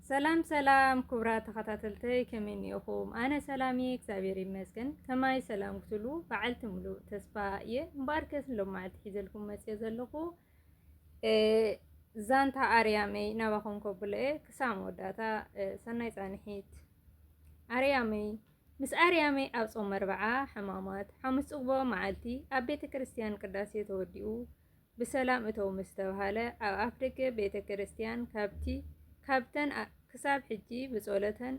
ሰላም ሰላም ክቡራት ተኸታተልተይ ከመይ እኒኦኹም? ኣነ ሰላም እየ እግዚኣብሔር ይመስገን። ከማይ ሰላም ክትሉ በዓልቲ ሙሉእ ተስፋ እየ። እምበኣር ከስ ሎም መዓልቲ ሒዘልኩም መፅየ ዘለኹ ዛንታ ኣርያመይ ናባኹም ከብሎ እየ። ክሳብ መወዳእታ ሰናይ ፃንሒት። ኣርያመይ ምስ ኣርያመይ ኣብ ፆም መርበዓ ሕማማት ሓሙስ ፅግቦ መዓልቲ ኣብ ቤተ ክርስቲያን ቅዳሴ ተወዲኡ ብሰላም እተው ምስ ተብሃለ ኣብ ኣፍደገ ቤተ ክርስቲያን ካብቲ ካብተን ክሳብ ሕጂ ብጸሎተን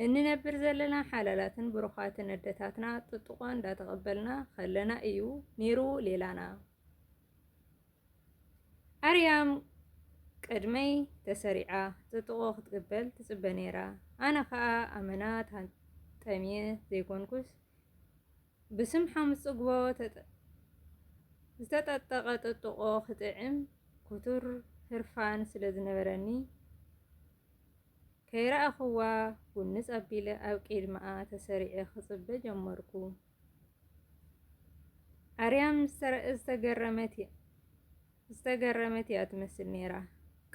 እንነብር ዘለና ሓላላትን ብሩኻትን ኣደታትና ጥጥቖ እንዳተቐበልና ከለና እዩ ኔሩ ሌላና ኣርያም ቅድመይ ተሰሪዓ ጥጥቖ ክትቅበል ትጽበ ኔራ ኣነ ከኣ ኣመና ታንጠምየ ዘይኮንኩስ ብስም ሓሙስ ጽግቦ ዝተጠጠቐ ጥጥቖ ክጥዕም ክቱር ህርፋን ስለ ዝነበረኒ፣ ከይረኣኹዋ ጉንጽ ኣቢለ ኣብ ቂድምኣ ተሰሪዐ ክጽበ ጀመርኩ። ኣርያም ዝተገረመት እያ። ዝተገረመት እያ ትመስል ነይራ።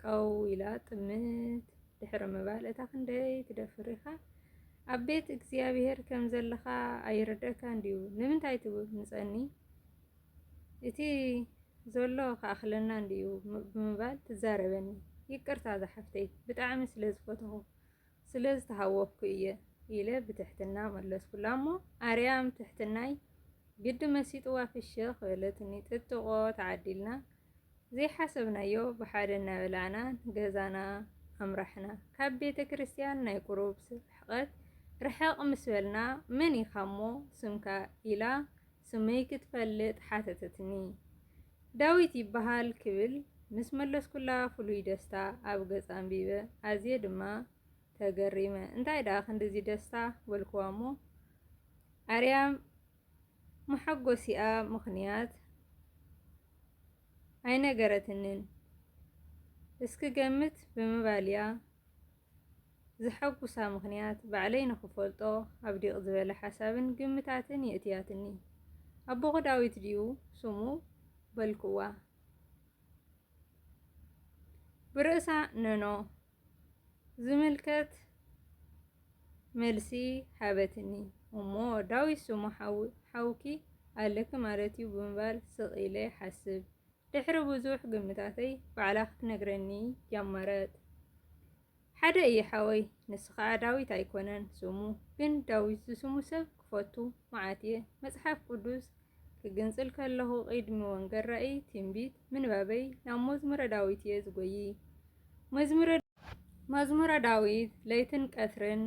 ቀው ኢላ ጥምት ድሕሪ ምባል እታ ክንደይ ትደፍር ኢኻ ኣብ ቤት እግዚኣብሄር ከም ዘለኻ ኣይርደካን ድዩ ንምንታይ ትምጸኒ እቲ ዘሎ ክኣኽለና እንድዩ ብምባል ትዛረበኒ። ይቅርታ ዝሓፍተይ ብጣዕሚ ስለ ዝፈተኹ ስለ ዝተሃወኽኩ እየ ኢለ ብትሕትና መለስኩላ እሞ ኣርያም ትሕትናይ ግዲ መሲጥዋ ፍሽኽ በለትኒ ጥጥቖ ተዓዲልና ዘይሓሰብናዮ ብሓደ እናበላዕና ገዛና ኣምራሕና ካብ ቤተ ክርስትያን ናይ ቁሩብ ርሕቐት ርሕቕ ምስ በልና መን ኢኻ እሞ ስምካ ኢላ ስመይ ክትፈልጥ ሓተተትኒ ዳዊት ይበሃል ክብል ምስ መለስኩላ ፍሉይ ደስታ ኣብ ገጻ ኣንቢበ። ኣዝየ ድማ ተገሪመ። እንታይ ደኣ ክንድዚ ደስታ? በልኩዋ'ሞ ኣርያም መሓጎሲኣ ምኽንያት ኣይነገረትንን። እስክገምት ብምባል'ያ ዘሐጉሳ ምኽንያት ባዕለይ ንኽፈልጦ ኣብዲቕ ዝበለ ሓሳብን ግምታትን የእትያትኒ። ኣቦኹ ዳዊት ድዩ ስሙ? በልኩዋ ብርእሳ ነኖ ዝምልከት መልሲ ሃበትኒ። እሞ ዳዊት ስሙ ሓውኪ ኣለኪ ማለት'ዩ ብምባል ስቕ ኢለ ይሓስብ። ድሕሪ ብዙሕ ግምታተይ ባዕላ ክትነግረኒ ጀመረት። ሓደ እዪ ሓወይ ንሱ ከኣ ዳዊት ኣይኮነን ስሙ ግን ዳዊት ዝስሙ ሰብ ክፈቱ መዓት እየ መጽሓፍ ቅዱስ ክግንጽል ከለኹ ቂድሚ ወንገል ራኢ ትንቢት ምንባበይ ናብ መዝሙረ ዳዊት እየ ዝጎዪ መዝሙረ ዳዊት ለይትን ቀትርን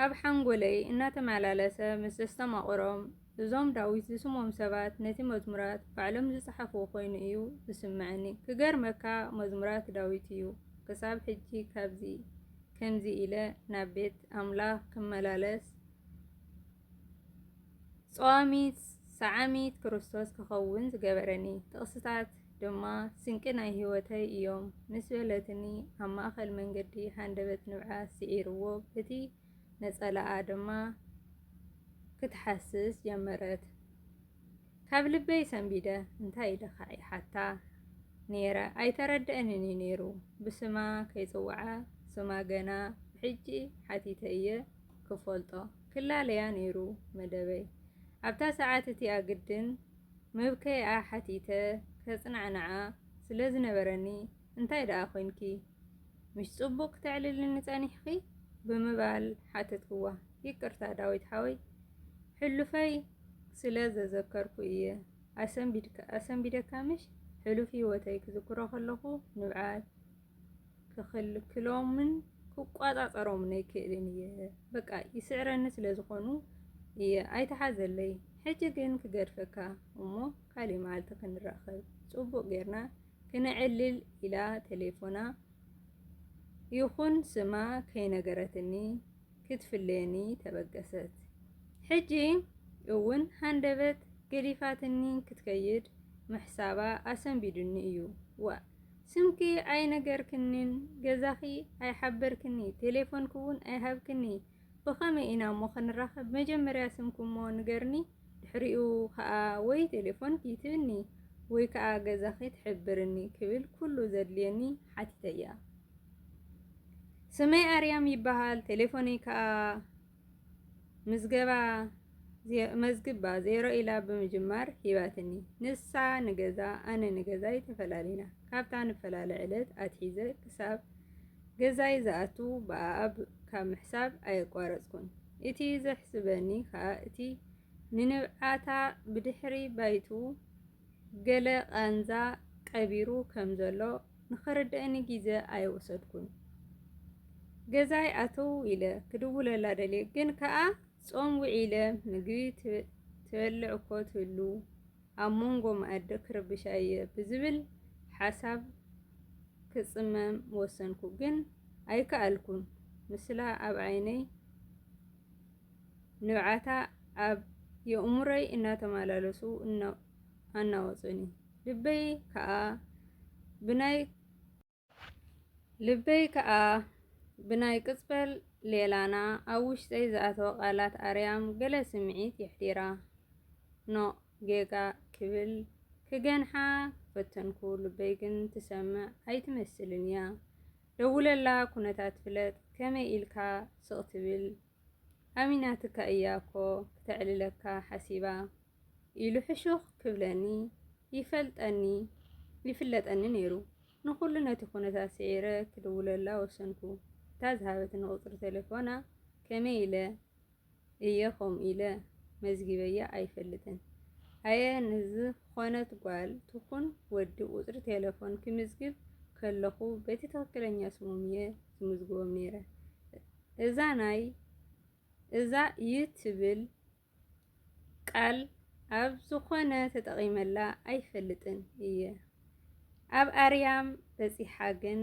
ኣብ ሓንጎለይ እናተመላለሰ ምስ ዘስተማቕሮም እዞም ዳዊት ዝስሞም ሰባት ነቲ መዝሙራት ባዕሎም ዝጸሓፍዎ ኮይኑ እዩ ዝስመዓኒ ክገርመካ መዝሙራት ዳዊት እዩ ክሳብ ሕጂ ካብዚ ከምዚ ኢለ ናብ ቤት ኣምላኽ ክመላለስ ጸዋሚት ሰዓሚት ክርስቶስ ክኸውን ዝገበረኒ ጥቕስታት ድማ ስንቂ ናይ ህይወተይ እዮም ምስ በለትኒ፣ ኣብ ማእከል መንገዲ ሃንደበት ንብዓት ስዒርዎ በቲ ነጸላኣ ድማ ክትሓስስ ጀመረት። ካብ ልበይ ሰንቢደ እንታይ ኢልኻ ይሓታ ነይረ፣ ኣይተረድኣንን እዩ ነይሩ። ብስማ ከይጽውዓ ስማ ገና ብሕጂ ሓቲተ እየ ክፈልጦ። ክላለያ ነይሩ መደበይ። ኣብታ ሰዓት እቲኣ ግድን መብከይኣ ሓቲተ ከጽናዕንዓ ስለ ዝነበረኒ እንታይ ደኣ ኰይንኪ? ምሽ ጽቡቕ ክተዕልልኒ ጸኒሕኺ? ብምባል ሓተትክዋ። ይቅርታ ዳዊት ሓወይ ሕሉፈይ ስለ ዘዘከርኩ እየ ኣሰንቢደካ ምሽ? ሕሉፍ ህይወተይ ክዝክሮ ከለኹ ንብዓት ክኽልክሎምን ክቋጻጸሮምን ኣይክእልን እየ በቃ ይስዕረኒ ስለ ዝኾኑ እየ ኣይትሓዘለይ ሕጂ ግን ክገድፈካ እሞ ካልእ መዓልቲ ክንራኸብ ጽቡቕ ጌርና ክነዕልል ኢላ ቴሌፎና ይኹን ስማ ከይነገረትኒ ክትፍለየኒ ተበገሰት ሕጂ እውን ሃንደበት ገዲፋትኒ ክትከይድ ምሕሳባ ኣሰንቢዱኒ እዩ ዋእ ስምኪ ኣይነገርክኒን ገዛኺ ኣይሓበርክኒ ቴሌፎንኪ ውን ኣይሃብክኒ ብኸመይ ኢና እሞ ክንራኸብ መጀመርያ ስምኪ እሞ ንገርኒ ድሕሪኡ ከኣ ወይ ቴሌፎንኪ ትብኒ ወይ ከኣ ገዛኺ ትሕብርኒ ክብል ኩሉ ዘድልየኒ ሓቲተያ ስመይ ኣርያም ይበሃል ቴሌፎነይ ከኣ ምዝገባ መዝግባ ዜሮ ኢላ ብምጅማር ሂባትኒ። ንሳ ንገዛ ኣነ ንገዛይ ተፈላለና። ካብታ ንፈላለ ዕለት ኣትሒዘ ክሳብ ገዛይ ዝኣቱ ብኣኣብ ካብ ምሕሳብ ኣየቋረጽኩን። እቲ ዘሕስበኒ ከኣ እቲ ንንብዓታ ብድሕሪ ባይቱ ገለ ቃንዛ ቀቢሩ ከም ዘሎ ንኸረድኣኒ ግዜ ኣይወሰድኩን። ገዛይ ኣትው ኢለ ክድውለላ ደልየ ግን ከኣ ጾም ውዒለ ምግቢ ትበልዕ እኮ ትህሉ ኣብ ሞንጎ መኣዲ ክርብሻ እየ ብዝብል ሓሳብ ክጽመም ወሰንኩ ግን ኣይከኣልኩን ምስላ ኣብ ዓይነይ ንብዓታ ኣብ የእሙረይ እናተማላለሱ ኣናወጹኒ። ልበይ ከኣ ብናይ ልበይ ከኣ ብናይ ቅጽበል ሌላና ኣብ ውሽጠይ ዝኣተወ ቃላት ኣርያም ገለ ስምዒት የሕዲራ። ኖእ ጌጋ ክብል ክገንሓ ፈተንኩ ልበይ ግን ትሰምዕ ኣይትመስልን እያ። ደውለላ ኩነታት ፍለጥ ከመይ ኢልካ ስቅ ትብል። ኣሚናትካ እያ እኮ ክተዕልለካ ሓሲባ ኢሉ ሕሹኽ ክብለኒ ይፈልጠኒ ይፍለጠኒ ነይሩ። ንኹሉ ነቲ ኩነታት ስዒረ ክድውለላ ወሰንኩ። እታ ዝሃበትኒ ቁጽሪ ተሌፎና ከመይ ኢለ እየ ከምኡ ኢለ መዝጊበያ ኣይፈልጥን። ኣየ ንዝኾነት ጓል ትኹን ወዲ ቁጽሪ ቴለፎን ክምዝግብ ከለኹ በቲ ትኽክለኛ ስሞም እየ ዝምዝግቦም ነይረ። እዛ ናይ እዛ ዩ ትብል ቃል ኣብ ዝኾነ ተጠቒመላ ኣይፈልጥን እየ ኣብ ኣርያም በጺሓ ግን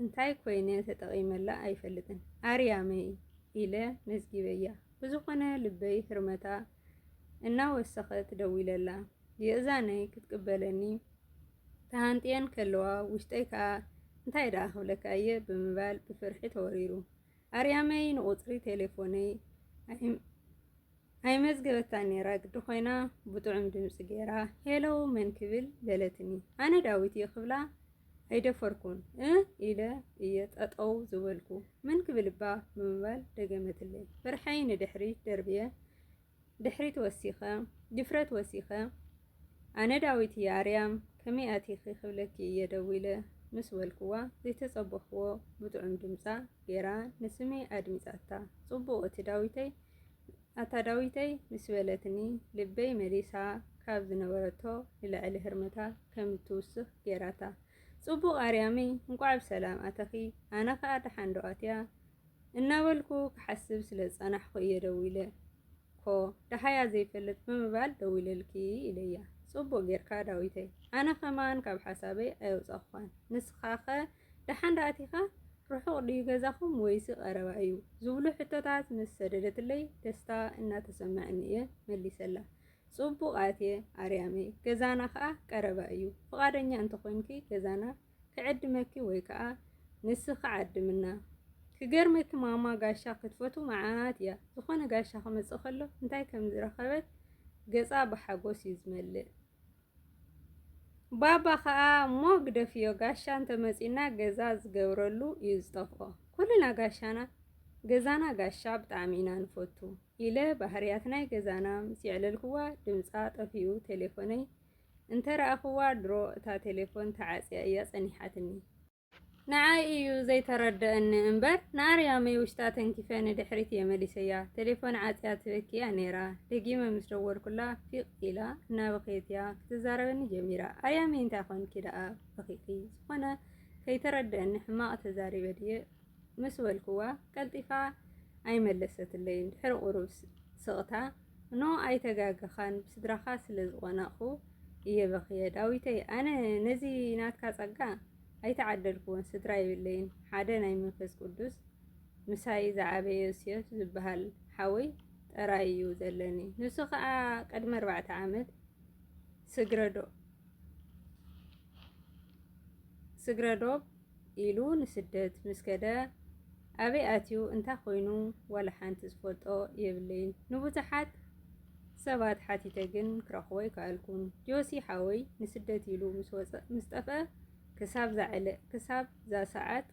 እንታይ ኮይነ ተጠቒመላ ኣይፈልጥን ኣርያመይ ኢለ መዝጊበያ ብዝኾነ ልበይ ህርመታ እናወሰኸት ደዊለላ የእዛነይ ክትቅበለኒ ተሃንጥየን ከለዋ ውሽጠይ ከኣ እንታይ ደኣ ክብለካ እየ ብምባል ብፍርሒ ተወሪሩ። ኣርያመይ ንቁጽሪ ቴሌፎነይ ኣይመዝገበታን ነይራ ግዲ ኮይና ብጥዑም ድምጺ ገይራ ሄሎ መን ክብል በለትኒ። ኣነ ዳዊት እየ ክብላ ኣይደፈርኩን እ ኢለ እየ ጠጠው ዝበልኩ። መን ክብል እባ ብምባል ደገመትለይ። ፍርሐይ ንድሕሪት ደርብየ ድሕሪት ወሲኸ ድፍረት ወሲኸ ኣነ ዳዊት እየ ኣርያም ከመይ ኣቲኺ ክብለኪ እየ ደዊለ ምስ በልክዋ ዘይተጸበኽዎ ብጥዑም ድምጻ ጌራ ንስመይ ኣድሚጻታ ጽቡቕ እቲ ዳዊተይ ኣታ ዳዊተይ ምስ በለትኒ ልበይ መሊሳ ካብ ዝነበረቶ ንላዕሊ ህርመታ ከም እትውስኽ ጌራታ ጽቡቕ ኣርያመይ እንቋዕ ብሰላም ኣተኺ ኣነ ከኣ ደሓን ዶ ኣትያ እናበልኩ ክሓስብ ስለ ዝጸናሕኩ እየ ደዊለ። እኮ ደሃያ ዘይፈልጥ ብምባል ደዊለልኪ ኢለያ። ጽቡቕ ጌርካ ዳዊተይ። ኣነ ከማን ካብ ሓሳበይ ኣየውጻኹኻን። ንስኻኸ ደሓን ደኣ ኣቲኻ? ርሑቕ ድዩ ገዛኹም ወይሲ ቀረባ እዩ? ዝብሉ ሕቶታት ምስ ሰደደትለይ ደስታ እናተሰመዐኒ እየ መሊሰላ። ጽቡቕ ኣትየ ኣርያመይ። ገዛና ከኣ ቀረባ እዩ። ፍቓደኛ እንተ ኾይንኪ ገዛና ክዕድመኪ ወይ ከኣ ንስኺ ዓድምና። ክገርመኪ ማማ ጋሻ ክትፈቱ መዓት እያ ዝኾነ ጋሻ ክመጽእ ከሎ እንታይ ከም ዝረኸበት ገጻ ብሓጎስ እዩ ዝመልእ። ባባ ከኣ እሞ ግደፍዮ ጋሻ እንተመጺና ገዛ ዝገብረሉ እዩ ዝጠፍኦ። ኩልና ጋሻና ገዛና ጋሻ ብጣዕሚ ኢና ንፈቱ። ኢለ ባህርያት ናይ ገዛና ምስ የዕለልኩዋ ድምጻ ጠፊኡ ቴሌፎነይ እንተ ረኣኹዋ ድሮ እታ ቴሌፎን ተዓጽያ እያ ጸኒሓትኒ። ንዓይ እዩ ዘይተረደኣኒ እምበር ንኣርያመይ ውሽጣ ተንኪፈ ንድሕሪት እየ መሊሰያ። ቴሌፎን ዓጽያ ትበኪ እያ ነይራ። ደጊመ ምስ ደወልኩላ ፊቕ ኢላ እናበኸየት እያ ክትዛረበኒ ጀሚራ። ኣርያመይ እንታይ ኾንኪ ደኣ በኺኺ? ዝኾነ ከይተረደኣኒ ሕማቕ ተዛሪበ ድየ? ምስ በልኩዋ ቀልጢፋ ኣይመለሰትለይን። ድሕሪ ቁሩብ ስቕታ፣ ን ኣይተጋገኻን ብስድራኻ ስለ ዝቖነቕኩ እየ በኽየ ዳዊተይ ኣነ ነዚ ናትካ ጸጋ ኣይተዓደልኩዎን ስድራ የብለይን ሓደ ናይ መንፈስ ቁዱስ ምሳይ ዝዓበየ ዮሴፍ ዝብሃል ሓወይ ጥራይ እዩ ዘለኒ ንሱ ከኣ ቅድሚ ኣርባዕተ ዓመት ስግረዶ ስግረዶብ ኢሉ ንስደት ምስ ከደ ኣበይ ኣትዩ እንታይ ኮይኑ ዋላ ሓንቲ ዝፈልጦ የብለይን ንቡዙሓት ሰባት ሓቲተ ግን ክረኽቦ ኣይከኣልኩን ጆሲ ሓወይ ንስደት ኢሉ ምስ ወጸ ምስ ጠፍኣ ክሳብ ዛዕለ ክሳብ ዛሰዓት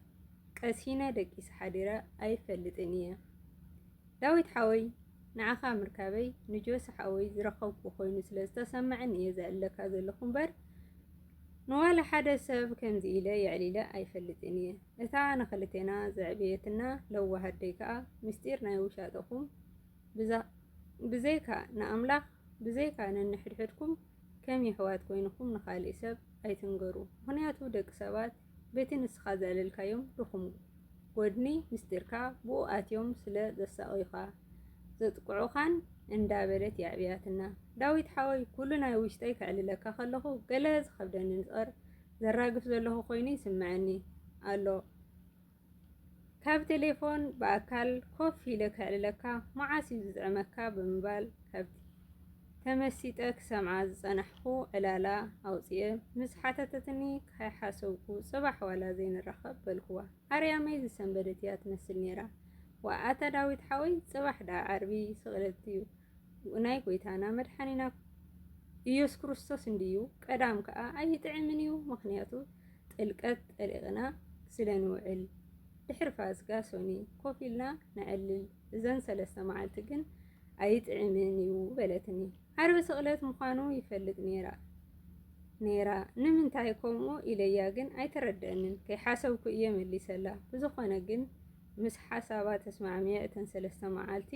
ቀሲነ ደቂሰ ሓዲረ ኣይፈልጥን ኢየ ዳዊት ሓወይ ንዓኻ ምርካበይ ንጆሲ ሓወይ ዝረኸብኩ ኮይኑ ስለ ዝተሰመዐኒ ኢየ ዝዕልለካ ዘለኹ እምበር ንዋላ ሓደ ሰብ ከምዚ ኢለ የዕሊለ ኣይፈልጥን እየ እታ ንክልቴና ዘዕበየትና ለዋህ ኣደይ ከኣ ምስጢር ናይ ውሻጠኹም ብዘይካ ንኣምላኽ ብዘይካ ነንሕድሕድኩም ከም የሕዋት ኮይንኩም ንካሊእ ሰብ ኣይትንገሩ ምክንያቱ ደቂ ሰባት በቲ ንስኻ ዘዕለልካዮም ድኹም ጎድኒ ምስጢርካ ብኡ ኣትዮም ስለ ዘሳቕዩኻ ዘጥቅዑኻን እንዳ በለት የዕብያትና። ዳዊት ሓወይ ኩሉ ናይ ውሽጠይ ከዕልለካ ከለኹ ገለ ዝኸብደኒ ንጽር ዘራግፍ ዘለኹ ኮይኑ ይስመዐኒ ኣሎ። ካብ ቴሌፎን ብኣካል ኮፍ ኢለ ከዕልለካ መዓስ እዩ ዝጥዕመካ ብምባል ካብ ተመሲጠ ክሰምዓ ዝጸናሕኩ ዕላላ ኣውጺኤ ምስ ሓተተትኒ ካይሓሰብኩ ጽባሕ ዋላ ዘይንራኸብ በልኩዋ። ኣርያመይ ዝሰንበደት እያ ትመስል ነይራ። ዋእ ኣታ ዳዊት ሓወይ ጽባሕ ደኣ ዓርቢ ስቕለት እዩ። ናይ ጎይታና መድሓኒና ኢየሱስ ክርስቶስ እንድዩ ቀዳም ከዓ ኣይጥዕምን እዩ ምክንያቱ ጥልቀት ጠሊቕና ስለ ንውዕል ድሕሪ ፋስጋ ሶኒ ኮፍ ኢልና ነዕልል እዘን ሰለስተ መዓልቲ ግን ኣይጥዕምን እዩ በለትኒ ዓርቢ ስቕለት ምዃኑ ይፈልጥ ነይራ ነይራ ንምንታይ ከምኡ ኢለያ ግን ኣይተረደአንን ከይሓሰብኩ እየ መሊሰላ ብዝኾነ ግን ምስ ሓሳባ ተስማዕሚዐ እተን ሰለስተ መዓልቲ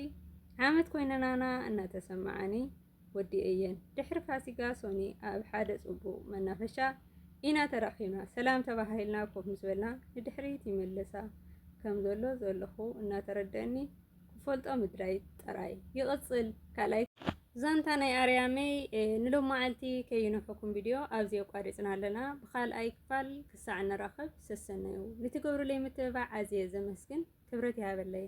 ዓመት ኮይነናና እናተሰመዓኒ ወዲኤየን። ድሕሪ ፋሲጋ ሶኒ ኣብ ሓደ ጽቡቕ መናፈሻ ኢና ተራኺብና። ሰላም ተባሃሂልና ኮፍ ምስ በልና ንድሕሪት ይመልሳ ከም ዘሎ ዘለኹ እናተረደኣኒ ክፈልጦ ምድላይ ጥራይ። ይቕጽል ካልኣይ ዛንታ ናይ ኣርያመይ ንሎማዓልቲ ከዩንሕኩም ቪድዮ ኣብዚ ኣቋሪጽና ኣለና ብካልኣይ ክፋል ክሳዕ ንራኸብ። ሰሰናዩ ንትገብሩለይ ምትብባዕ ኣዝየ ዘመስግን ክብረት ይሃበለይ።